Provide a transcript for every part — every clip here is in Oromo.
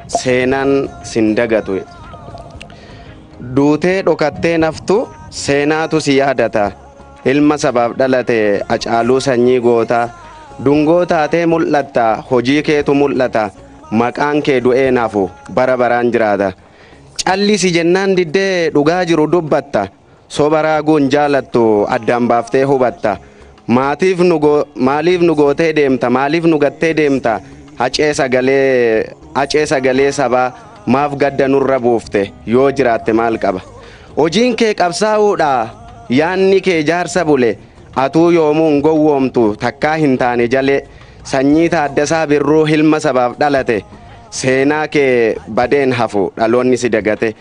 seenaan sin dagatu duutee dhokattee naftu seenaatu si yaadata ilma sabaaf dhalate acaaluu sanyii gootaa dungoo taatee mul'atta hojii keetu mul'ata maqaan kee du'ee nafu bara baraan jiraata callisi jennaan diddee dhugaa jiru dubbatta Soba raaguun jaalattu addaan baaftee hubatta. Maatiif nu go maaliif nu gootee deemta maaliif nu gattee deemta hacee sagalee hacee sagalee sabaa maaf gadda nurra buufte yoo jiraatte maal qaba. Hojiin kee qabsaa'uudha yaanni kee jaarsa bule atuu yoomuu hin gowwoomtu takkaa hin taane jalee sanyii Taaddasaa Birruu hilma sabaaf dhalate seenaa kee badee hin hafu dhaloonni si dagate.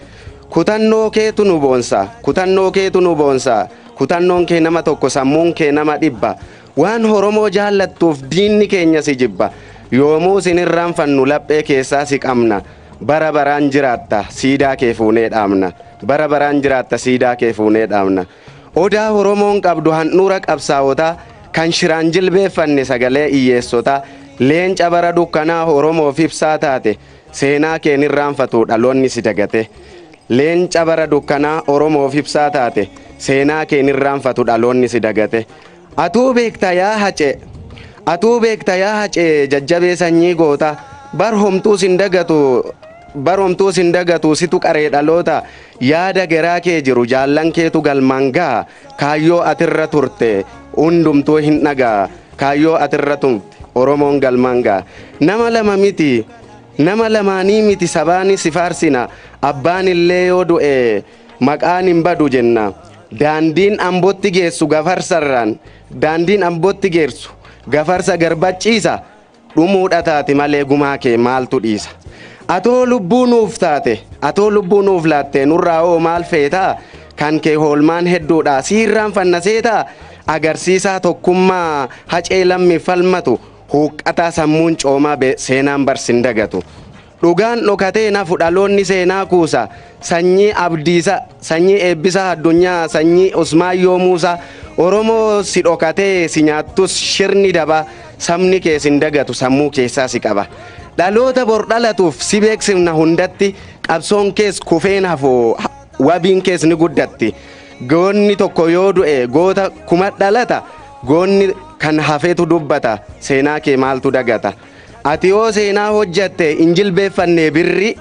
Kutannoo keetu nu boonsa, kutannoo keetu nu boonsa, kutannoon kee nama tokko sammuun kee nama dhibba, waan Oromoo jaallattuuf diinni keenya si jibba, yoomuu sin irraanfannu laphee keessaa si qabna, bara baraan jiraatta siidaa kee fuunee dhaabna, bara baraan jiraatta siidaa kee fuunee dhaabna. Odaa Oromoon qabdu handhuura qabsaawotaa, kan shiraan jilbeeffanne sagalee iyyeessotaa, leenca bara dukkanaa Oromoof ibsaa taate, Seenaa kee hin irraanfatu dhaloonni si dagate. Leenca bara dukkanaa Oromoof ibsaa taate. Seenaa kee hin irraanfatu dhaloonni si dagate. Atuu beekta yaa Hacee! Atuu beekta yaa Hacee jajjabee sanyii goota. Bar homtuu sin dagatu Bar homtuu sin dagatu situ qaree dhaloota. Yaada geraa kee jiru jaallan keetu galmaan gaha. Kaayyoo ati irra turte hundumtuu hin dhaga'a. Kaayyoo ati irra tumte Oromoon galmaan ga'a. Nama lama miti nama lamaanii miti sabaani si faarsina. Abbaan illee yoo du'e maqaan hin badu jenna. Daandiin Ambotti geessu Gafarsarraan daandiin Ambotti geessu Gafarsa Garbachiisa dhumuudha taate malee gumaa kee maaltu dhiisa? Atoo lubbuu nuuf taate, atoo lubbuu nuuf laattee nurraa hoo maal feetaa? Kan kee hoolmaan hedduudha siirraan fannaseetaa? Agarsiisaa tokkummaa hacee lammiif falmatu, huuqqataa sammuun coomaa be seenaan bar sin dagatu. Dhugaan dhokatee hin hafu dhaloonni seenaa kuusa Sanyii Abdiisa Sanyii Eebbisaa Addunyaa Sanyii Usmaayyoo Muusaa Oromoo si dhokatee si nyaattus shirni dabaa Sabni kee sin dagatu sammuu keessaa si qaba Dhaloota bor dhalatuuf si beeksifna hundatti Qabsoon kees kufee hin hafu wabiin kees ni guddatti Goonni tokko yoo du'e goota kuma dhalata Goonni kan hafetu dubbata seenaa kee maaltu dagata. Ati yoo seenaa hojjatte hin jilbeeffannee birri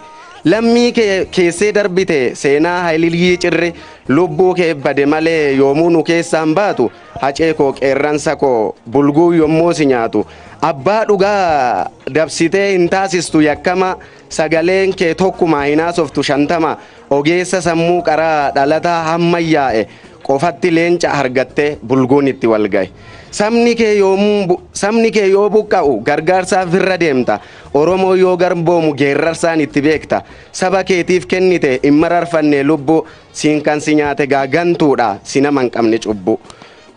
Lammii kee keessee darbite seenaa Haylilyii Cirri Lubbuu keef bade malee yoomuu nu keessaa hin baatu Hacee koo qeerransa koo bulguun yommoo si nyaatu Abbaa dhugaa dabsitee hin taasistu yakkamaa Sagaleen kee tokkumaa hin haasoftu shantamaa Ogeessa sammuu qaraa dhalataa hammayyaa'e Qofatti leenca hargattee bulguun itti wal ga'e. Sabni kee yoomuu bu- sabni kee yoo buqqa'u gargaarsaaf irra deemta. Oromoo yoo garboomu geerrarsaan itti beekta. Saba keetiif kennite hin mararfanne lubbuu. Siin kan si nyaate gaa gantuudha si nama hin qabne cubbuu.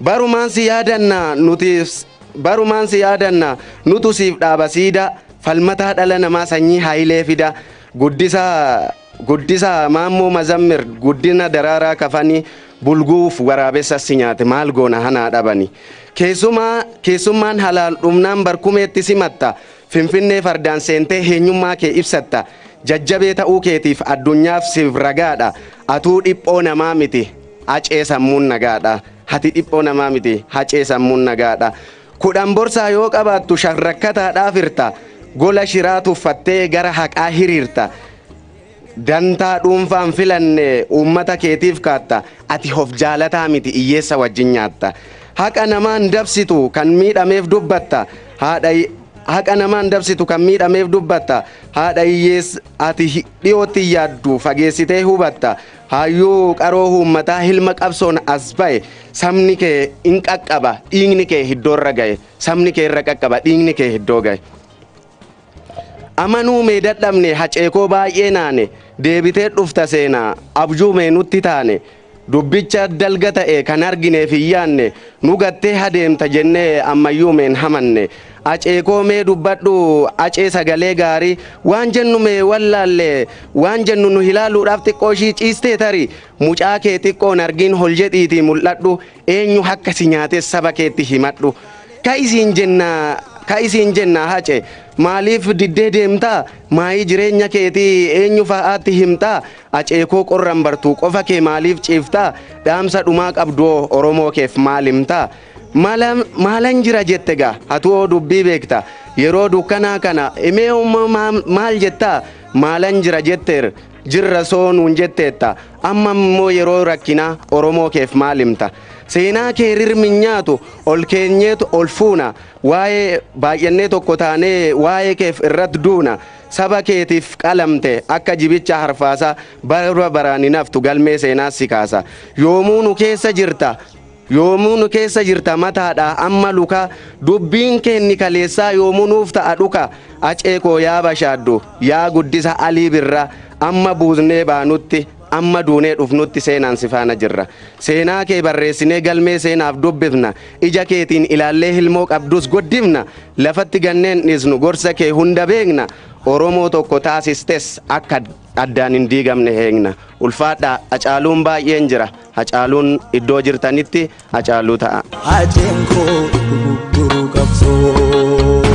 Barumaan si yaadanna nuti barumaan si yaadanna nutu siif dhaaba siidaa. Falmataa dhala namaa sanyii haayilee fidaa. Guddisaa Guddisa Maammoo Mazammir Guddina Daraaraa Kafani Bulguuf Waraabessa Si Nyaate Maal Goona Hanaa Dhabani Keessumaa Keessummaan Halaal Dhumnaan Barkumeetti Simatta Finfinnee Fardaan Seentee Heenyummaa Kee Ibsatta Jajjabee Ta'uu Keetiif Addunyaaf Siif Ragaadha Atuu Dhiphoo Namaa Miti Hacee Sammuun Nagaadha Hati Dhiphoo Namaa Miti Hacee Sammuun Nagaadha Kudhan borsaa yoo qabaattu shan rakkataadhaaf hirta, gola shiraa tuffattee gara haqaa hiriirta, dantaa dhuunfaa hin filanne uummata keetiif kaatta, ati of jaalataa miti iyyeessa wajjin nyaatta. Haqa namaa hin dabsitu kan miidhameef dubbatta, haadha Haqa namaa hin dabsitu kan miidhameef dubbatta, haadha hiyyeessa ati dhiyootti hin yaaddu fageessitee hubatta, Haayyuu qaroo huummataa hilma qabsoon as ba'e sabni kee in qaqqaba dhiigni kee hiddoo irra ga'e sabni kee irra qaqqaba dhiigni kee hiddoo ga'e. Amanuu mee dadhabne haceekoo baay'ee naane deebitee dhufta seenaa abjuu mee nutti taane dubbicha dalga ta'e kan argineef hin yaanne nu gattee hadeemta jennee ammayyuu meen hamanne Acee koo mee dubbadhu Acee sagalee gaarii waan jennu mee wallaalle waan jennu nu hilaaluudhaaf xiqqoo ishii ciistee tari mucaa kee xiqqoon argiin hol jedhiitii mul'adhu eenyu hakka si nyaates saba keetti himadhu ka'i siin jenna ka'i siin jenna hace maaliif diddee deemtaa maayii jireenya keetii eenyu fa'aatti himtaa acee koo qorran bartuu qofa kee maaliif ciiftaa dhaamsa dhumaa qabduoo oromoo keef maal himtaa Mala maalan jira jette gaa atu hoo dubbii beekta yeroo dukkanaa kana imee hoo ma- ma- maal jettaa maalan jira jetteer jirra soo nuun jetteetta amma immoo yeroo rakkinaa oromoo keef maal himta seenaa kee rir min nyaatu ol keenyeet ol fuuna waa'ee baay'annee tokko taanee waa'ee keef irrat duuna saba keetiif qalamte akka jibicha harfaasaa bara baraan hin haftu galmee seenaas si kaasa yoomuu nu keessa jirta Yoomuu nu keessa jirta mataadha amma luka Dubbiin kee inni kaleessaa yoomuu nuuf ta'a dhuka Acee koo yaa bashaaddu yaa guddisa Alii Birra Amma buusnee baanutti amma duunee dhufnutti seenaan si faana jirra Seenaa kee barreessinee galmee seenaaf dubbifna Ija keetiin ilaallee hilmoo qabdus guddifna Lafatti gannee hin dhiisnu gorsa kee hunda beekna Oromoo tokko taasistes akka addaan hin diigamne eegna. Ulfaadhaa Hacaaluun baay'een jira. Hacaaluun iddoo jirtanitti Hacaaluu ta'aa. Haceen koo dugugguruu qabsooti.